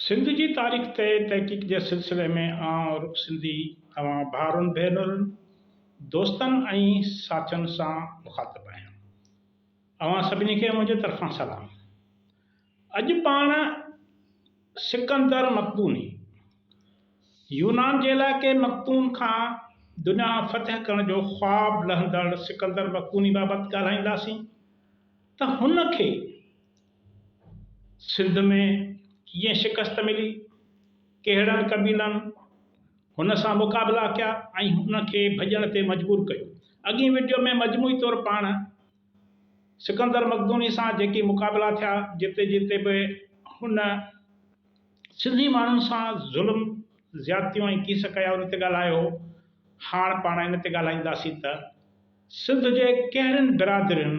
سنڌ جي تاريخ تي تحقيق جي سلسلي ۾ آئون عرب سنڌي اوهان ڀائرن ڀينرن، دوستن ۽ ساٿين سان مخاطب آهيان. اوهان سڀني کي منهنجي طرفان سلام. اڄ پاڻ سڪندر مقدوني يونان جي علائقي مقدون کان دنيا فتح ڪرڻ جو خواب لهندڙ سڪندر مقدوني بابت ڳالهائينداسين ته هن کي سنڌ ۾ ڪيئن شڪست ملي، ڪهڙن قبيلن هن سان مقابلا ڪيا ۽ هن کي ڀڄڻ تي مجبور ڪيو. اڳئين وڊيو ۾ مجموعي طور پاڻ سڪندر مقدوني سان جيڪي مقابلا ٿيا، جتي جتي به هن سنڌي ماڻهن سان ظلم، زيادتيون ۽ ڪيس ڪيا ان تي ڳالهايو هو، هاڻ پاڻ ان تي ڳالهائينداسين ته. سنڌ جي ڪهڙين برادرين،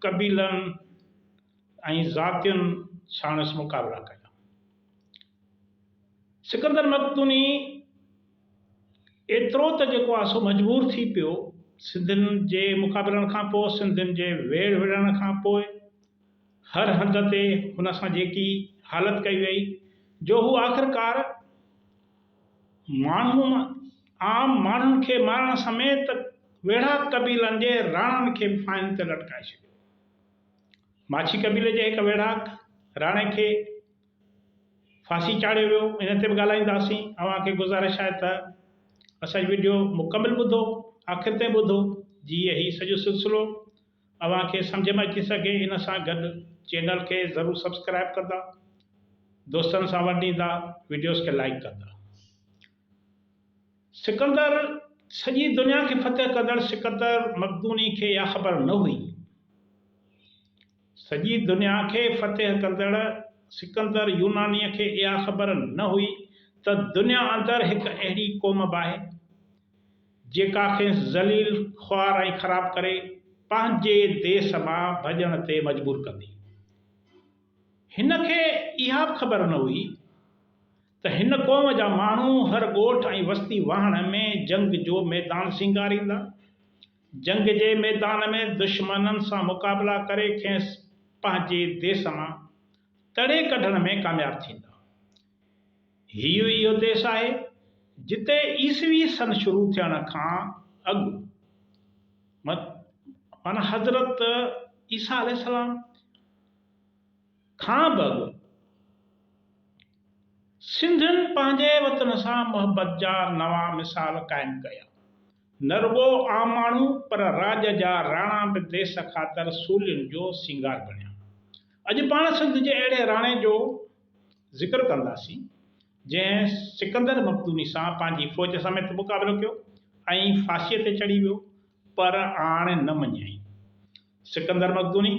قبيلن ۽ ذاتين ساڻس مقابلا ڪيا؟ سڪندر مقدوني ايترو ته جيڪو آ سو مجبور ٿي پيو. سنڌين جي مقابلن کان پوء، سنڌين جي ويڙهه وڙهڻ کان پوء هر هنڌ تي هن سان جيڪي حالت ڪئي ويئي جو هو آخرڪار ماڻهن عام ماڻهن کي مارڻ سميت ويڙهاڪ قبيلن جي راڻن کي به ڦاهين تي لٽڪائي ڇڏيو. ماڇي قبيلي جي هڪ ويڙهاڪ راڻي کي ڦاسي چاڙهيو ويو ان تي به ڳالهائينداسين. اوهان کي گذارش آهي ته اسان جي وڊيو مڪمل ٻڌو آخر تائين ٻڌو جيئن هي سڄو سلسلو اوهان کي سمجهه ۾ اچي سگهي ان سان گڏ چينل کي ضرور سبسڪرائيب ڪندا دوستن سان ورنڊيندا وڊيوز کي لائيڪ ڪندا سڪندر سڄي دنيا کي فتح ڪندڙ سڪندر مقدوني کي اها خبر نه هئي سڄي دنيا کي فتح ڪندڙ سڪندر يوناني کي اها خبر نه هئي ته دنيا اندر هڪ اهڙي قوم به آهي جيڪا کيس ذليل، خوار ۽ خراب ڪري پنهنجي ديس مان ڀڄڻ تي مجبور ڪندي. هن کي اها به خبر نه هئي ته هن قوم جا ماڻهو هر ڳوٺ ۽ وستي واهڻ ۾ جنگ جو ميدان سينگاريندا. جنگ جي ميدان ۾ دشمنن سان مقابلا ڪري کيس پنهنجي ديس مان تڙي ڪڍڻ ۾ ڪامياب ٿيندا. هيء ئي اهو ديس آهي، جتي عيسوي سن شروع ٿيڻ کان اڳ معنيٰ حضرت عيسيٰ عليه السلام کان به اڳ، سنڌين پنهنجي وطن سان محبت جا نوان مثال قائم ڪيا. نه رڳو عام ماڻهو، پر راڄ جا راڻا به ديس خاطر سولين جو سينگار بڻيا. اڄ پاڻ سنڌ جي اهڙي راڻي جو. ذڪر ڪنداسين، جنهن سڪندر مقدوني سان پنهنجي فوج سميت مقابلو ڪيو ۽ ڦاسيء تي چڙهي ويو، پر آڻ نه مڃيائين. سڪندر مقدوني،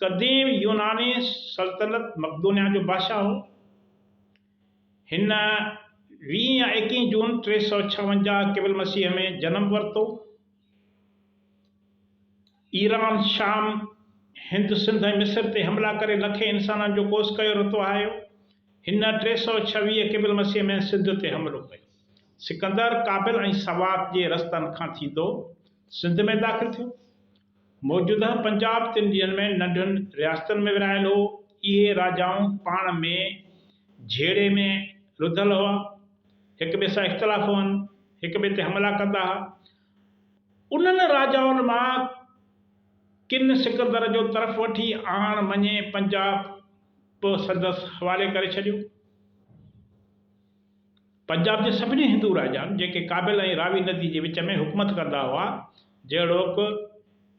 قديم يوناني سلطنت مقدونيا جو بادشاهه هو. هن ويهين يا ايڪيهين جون ٽي سؤ ڇاونجاهه قبل مسيح ۾ جنم ورتو. ايران، شام، هند، سنڌ ۽ مصر تي حملا ڪري لکين انسانن جو ڪوس ڪيو رتو آهيو. هن ٽي سؤ ڇويهه قبل مسيح ۾ سنڌ تي حملو ڪيو. سڪندر ڪابل ۽ سوات جي رستن کان ٿيندو سنڌ ۾ داخل ٿيو. موجوده پنجاب تن ڏينهن ۾ ننڍن رياستن ۾ ورهايل هو. اهي راجائون پاڻ ۾ جهيڙي ۾ رڌل هئا. هڪ ٻئي سان اختلاف هئن. هڪ ٻئي تي حملا ڪندا ها. انهن راجائن مان ڪن سڪندر جو طرف وٺي آڻ مڃي پنجاب به سندس حوالي ڪري ڇڏيو. پنجاب جي سڀني هندو راجائن جيڪي ڪابل ۽ راوي ندي جي وچ ۾ حڪومت ڪندا هئا، جهڙوڪ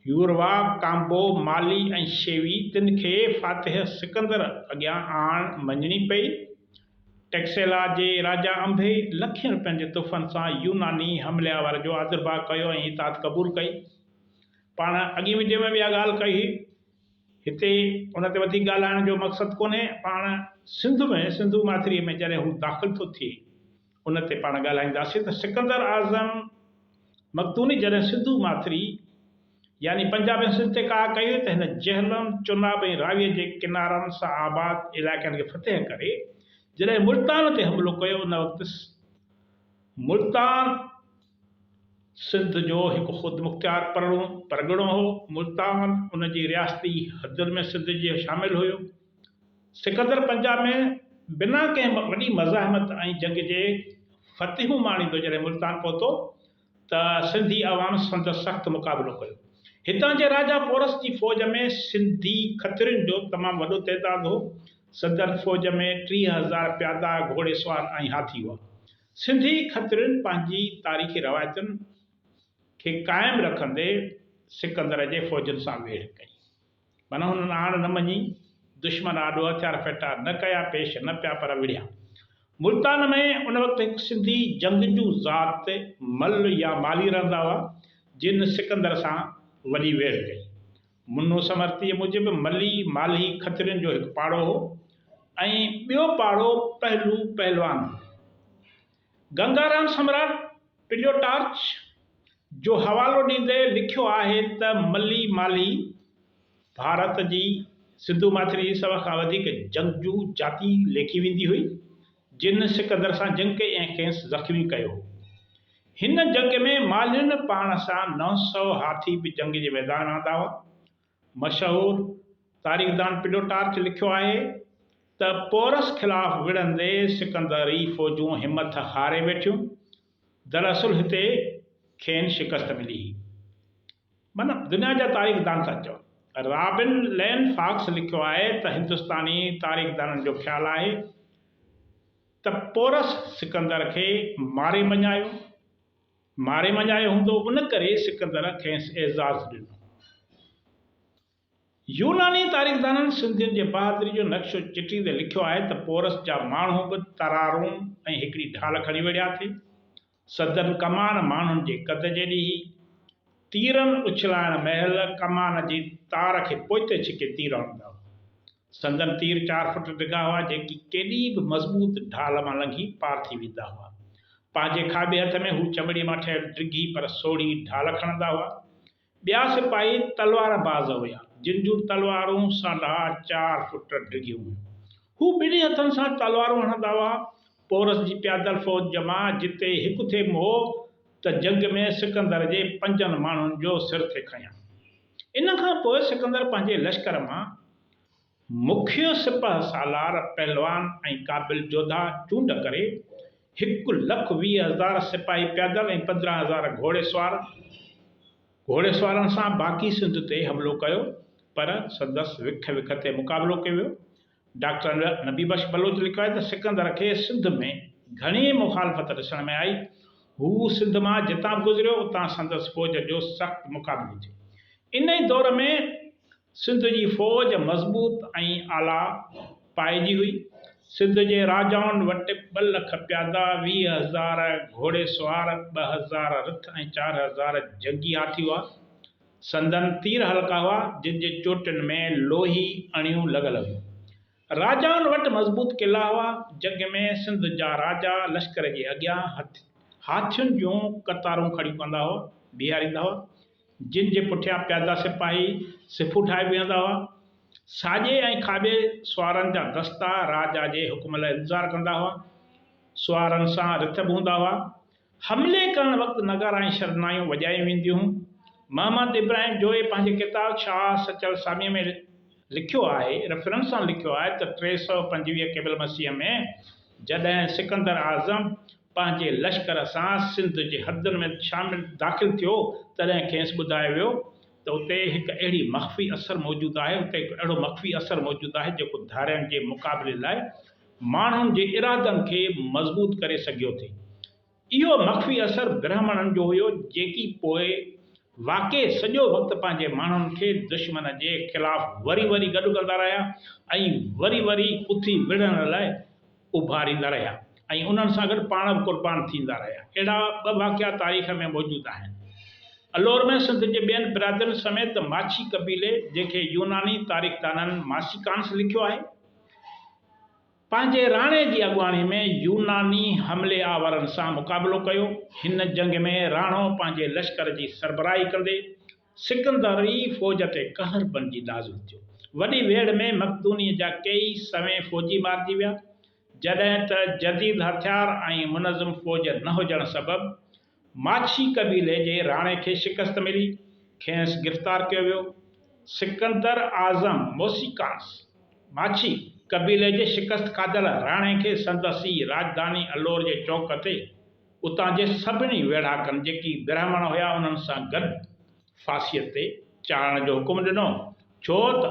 يوروا، ڪامبو، مالي ۽ شيوي، تن کي فاتح سڪندر اڳيان آڻ مڃڻي پئي ٽئڪسيلا جي راجا انبي لکين روپين جي تحفن سان يوناني حملياور جو آذرڀاء ڪيو ۽ اطاعت قبول ڪئي. پاڻ اڳين وڊيو ۾ به اها ڳالهه ڪئي هئي. هتي ان تي وڌيڪ ڳالهائڻ جو مقصد ڪونهي. پاڻ سنڌ ۾ سنڌو ماٿريء ۾ جڏهن هو داخل ٿو ٿئي ان تي پاڻ ڳالهائينداسين ته سڪندر اعظم مقدوني جڏهن سنڌو ماٿري، يعني پنجاب ۽ سنڌ تي ڪاهه ڪيو ته هن جهلم، چناب ۽ راويء جي ڪنارن سان آباد علائقن کي فتح ڪري جڏهن ملتان تي حملو ڪيو ان وقت ملتان سنڌ جو هڪ خودمختيار پرڳڻو هو، ملتان ان جي رياستي حدن ۾ سنڌ جي شامل هيو، سڪندر پنجاب ۾ بنا ڪنهن وڏي مزاحمت ۽ جنگ جي فتحون ماڻيندو جڏهن ملتان پهتو، ته سنڌي عوام سندس سخت مقابلو ڪيو. هتان جي راجا پورس جي فوج ۾ سنڌي کترين جو تمام وڏو تعداد هو. سندن فوج ۾ ٽيهه هزار پيادا، گهوڙي سوار ۽ هاٿي هئا. سنڌي کترين پنهنجي تاريخي روايتن کي قائم رکندي سڪندر جي فوجن سان ويڙهه ڪئي. من هنن آڻ نه مڃي، دشمن آڏو هٿيار ڦيٽا، نه ڪيا پيش نه پيا پر وڙهيا. ملتان ۾ ان وقت هڪ سنڌي جنگجو ذات مل يا مالهي رهندا هئا، جن سڪندر سان وڏي ويڙهه ڪئي. منو سمرتيء موجب ملي، مالهي، کترين جو هڪ پاڙو هو ۽ ٻيو پاڙو پهلو پهلوان هو. گنگارام سمراٽ پليوٽارچ جو حوالو ڏيندي لکيو آهي ته ملي مالي ڀارت جي سنڌو ماٿري جي سڀ کان وڌيڪ جنگجو جاتي ليکي ويندي هئي جن سڪندر سان جنگ ڪئي ۽ کيس زخمي ڪيو هو. هن جنگ ۾ مالين پاڻ سان نو سؤ هاٿي به جنگ جي ميدان ۾ آندا هئا. مشهور تاريخدان پلوٽارچ لکيو آهي ته پورس خلاف وڙهندي سڪندري فوجون همٿ هاري ويٺيون، دراصل هتي کين شڪست ملي هئي. من دنيا جا تاريخدان ٿا چون. رابن لين فاڪس لکيو آهي ته هندستاني تاريخدانن جو خيال آهي ته پورس سڪندر کي ماري مڃايو. ماري مڃايو هوندو، ان ڪري سڪندر کيس اعزاز ڏنو. يوناني تاريخدانن سنڌين جي بهادري جو نقشو چٽيندي لکيو آهي ته پورس جا ماڻهو به ترارون ۽ هڪڙي ڍال کڻي وڙهيا ٿي. سندن ڪمان ماڻهن جي قد جيڏي هئي. تيرن اڇلائڻ مهل ڪمان جي تار کي پوئتي ڇڪي تير هڻندا هئا. سندن تير چار فٽ ڊگها هئا، جيڪي ڪيڏي به مضبوط ڍال مان لنگهي پار ٿي ويندا هئا. پنهنجي کاٻي هٿ ۾ هو چمڙي مان ٺهيل ڊگهي پر سوڙهي ڍال کڻندا هئا. ٻيا سپاهي تلوار باز هيا، جن جون تلوارون ساڍا چار فٽ ڊگهيون هيون. هو ٻنهي هٿن سان تلوارون هڻندا هئا. پورس جي پيادل فوج جمع جتي هڪ ٿيم هو ته جنگ ۾ سڪندر جي پنجن ماڻهن جو سر ٿي کنيان. ان کان پوء سڪندر پنهنجي لشڪر مان مکيه سپهه سالار، پهلوان ۽ قابل جوڌا چونڊ ڪري، هڪ لک ويهه هزار سپاهي پيادل ۽ پندرهن هزار گهوڙي سوار، گهوڙي سوارن سان باقي سنڌ تي حملو ڪيو، پر سندس وک وک تي مقابلو ڪيو ويو. ڊاڪٽر نبي بخش بلوچ لکيو آهي ته سڪندر کي سنڌ ۾ گهڻي مخالفت ڏسڻ ۾ آئي. هو سنڌ مان جتان به گذريو اتان سندس فوج جو سخت مقابلو ٿيو. ان ئي دور ۾ سنڌ جي فوج مضبوط ۽ اعليٰ پائي جي هئي. سنڌ جي راجائن وٽ ٻه لک پيادا، ويهه هزار گهوڙي سوار، ٻه هزار رٿ ۽ چار هزار جنگي هاٿي هئا. سندن تير هلڪا هئا، جن جي چوٽين ۾ لوهي اڻيون لڳل هيون. راجائن وٽ مضبوط قلعا هئا. جنگ ۾ سنڌ جا راجا لشڪر جي اڳيان هاٿين جون قطارون کڙيون ڪندا هئا، بيهاريندا هئا، جن جي پٺيان پيادا سپاهي صفون ٺاهي بيهندا هئا. ساڄي ۽ کاٻي سوارن جا دستا راجا جي حڪم لاء انتظار ڪندا هئا. سوارن سان رٿ به هوندا هئا. حملي ڪرڻ وقت نغارا ۽ شرنايون وڄايون وينديون هيون. محمد ابراهيم جويي پنهنجي ڪتاب شاهه سچل اسلاميء ۾ لکيو آهي، Reference، سان لکيو آهي ته ٽي سؤ پنجويهه قبل مسيح ۾ جڏهن سڪندر اعظم پنهنجي لشڪر سان سنڌ جي حدن ۾ شامل داخل ٿيو تڏهن کيس ٻڌايو ويو ته اتي هڪ اهڙي مخفي اثر موجود آهي اتي هڪ اهڙو مخفي اثر موجود آهي جيڪو ڌارين جي مقابلي لاء ماڻهن جي ارادن کي مضبوط ڪري سگهيو ٿي. اهو مخفي اثر برهمڻن جو هيو جيڪي پوء واقعي سڄو وقت پنهنجي ماڻهن کي دشمن جي خلاف وري وري گڏ ڪندا رهيا ۽ وري وري اٿي وڙهڻ لاء اڀاريندا رهيا ۽ انهن سان گڏ پاڻ به قربان ٿيندا رهيا. اهڙا ٻه واقعا تاريخ ۾ موجود آهن. الور ۾ سنڌ جي ٻين برادرين سميت ماڇي قبيلي جنهن کي يوناني تاريخدانن ماسيڪانس لکيو آهي. پنهنجي راڻي جي اڳواڻي ۾ يوناني حملي آورن سان مقابلو ڪيو. هن جنگ ۾ راڻو پنهنجي لشڪر جي سربراهي ڪندي سڪندري فوج تي قهر بنجي نازل ٿيو. وڏي ويڙهه ۾ مقدوني جا ڪيئي سوين فوجي مارجي ويا، جڏهن ته جديد هٿيار ۽ منظم فوج نه هجڻ سبب ماڇي قبيلي جي راڻي کي شڪست ملي، کينئس گرفتار ڪيو ويو. سڪندر اعظم موسيقانس، ماڇي قبيلي جي شڪست کاڌل راڻي کي سندس ئي راڄڌاني الور جي چوڪ تي اتان جي سڀني ويڙهاڪن جيڪي برهمڻ هيا انهن سان گڏ ڦاسيء تي چاڙهڻ جو حڪم ڏنو ڇو ته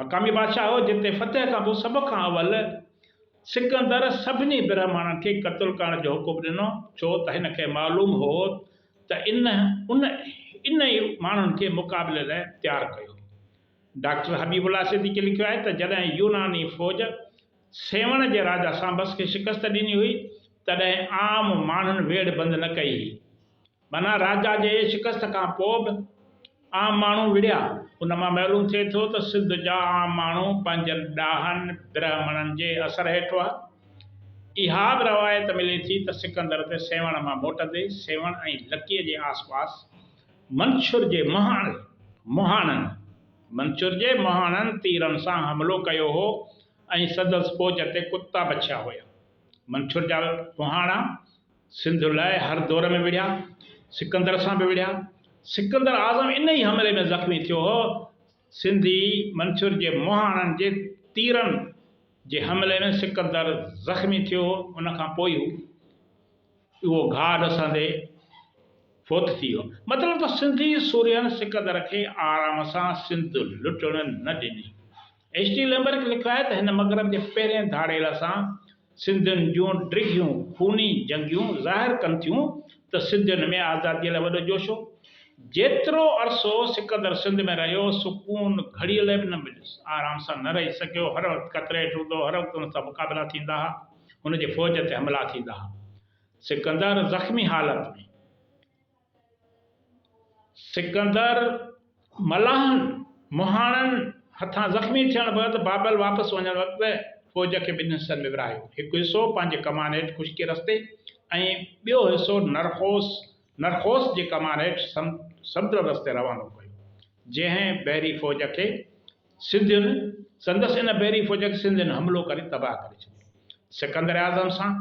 مقامي بادشاهه هو، جنهن تي فتح کان پوء سڀ کان اول سڪندر سڀني برهمڻن کي قتل ڪرڻ جو حڪم ڏنو، ڇو ته هن کي معلوم هو ته ان ان انهي ماڻهن کي مقابلي لاء تيار ڪيو هو. ڊاڪٽر حبيب الله صديقي لکيو آهي ته جڏهن يوناني فوج سيوهڻ جي راجا سانبس کي شڪست ڏني هئي، تڏهن عام ماڻهن ويڙهه بند نه ڪئي هئي. بنان راجا جي شڪست کان پوء به عام ماڻهو وڙهيا. ان مان معلوم ٿئي ٿو ته سنڌ جا عام ماڻهو پنهنجن ڏاهن برهمڻن جي اثر هيٺ هئا. اها به روايت ملي ٿي ته سڪندر تي سيوهڻ مان موٽندي سيوهڻ ۽ لڪيء جي آسپاس منڇر جي مهاڻن، مهاڻن، منڇر جي مهاڻن تيرن سان حملو ڪيو هو ۽ سندس فوج تي ڪتا بڇيا هيا. منڇر جا مهاڻا. سنڌ لاء هر دور ۾ وڙهيا، سڪندر سان به وڙهيا. سڪندر اعظم ان ئي حملي ۾ زخمي ٿيو هو. سنڌي منڇر جي مهاڻن جي تيرن جي حملي ۾ سڪندر زخمي ٿيو هو، ان کان پوء هو اهو گهاء ڏسندي فوت ٿي ويو. مطلب ته سنڌي سورهين سڪندر کي آرام سان سنڌ لٽڻ نه ڏني. ايڇ ڊي ليمبرڪ لکرايو ته هن مغرب جي پهرين ڌاڙيل سان سنڌين جون ڊگهيون خوني جنگيون ظاهر ڪن ٿيون ته سنڌين ۾ آزاديء لاء وڏو جوش هو. جيترو عرصو سڪندر سنڌ ۾ رهيو، سڪون گهڙيء لاء به نه مليس. آرام سان نه رهي سگهيو، هر وقت خطري هيٺ هوندو هو، هر وقت هن سان مقابلا ٿيندا ها، هن جي فوج تي حملا ٿيندا ها. سڪندر زخمي حالت ۾. سڪندر ملاحن مهاڻن هٿان زخمي ٿيڻ بعد بابل واپس وڃڻ وقت فوج کي ٻن حصن ۾ ورهايو، هڪ حصو پنهنجي ڪمان هيٺ خشڪي رستي ۽ ٻيو حصو نرخوس، Narchos، جي ڪمان هيٺ سمنڊ رستي روانو ڪيو، جنهن بحري فوج کي سنڌين سندس ان بحري فوج تي سنڌين حملو ڪري تباهه ڪري ڇڏيو. سڪندر اعظم سان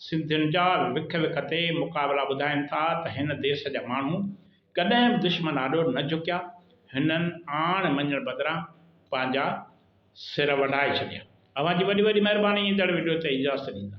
سنڌين جا وک وک تي مقابلا ٻڌائين ٿا ته هن ديس جا ماڻهو ڪڏهن به دشمن آڏو نه جهڪيا، هنن آڻ مڃڻ بدران پنهنجا سر وڍائي ڇڏيا. اوهان جي وڏي وڏي مهرباني ايندڙ وڊيو تي اجازت ڏيندا.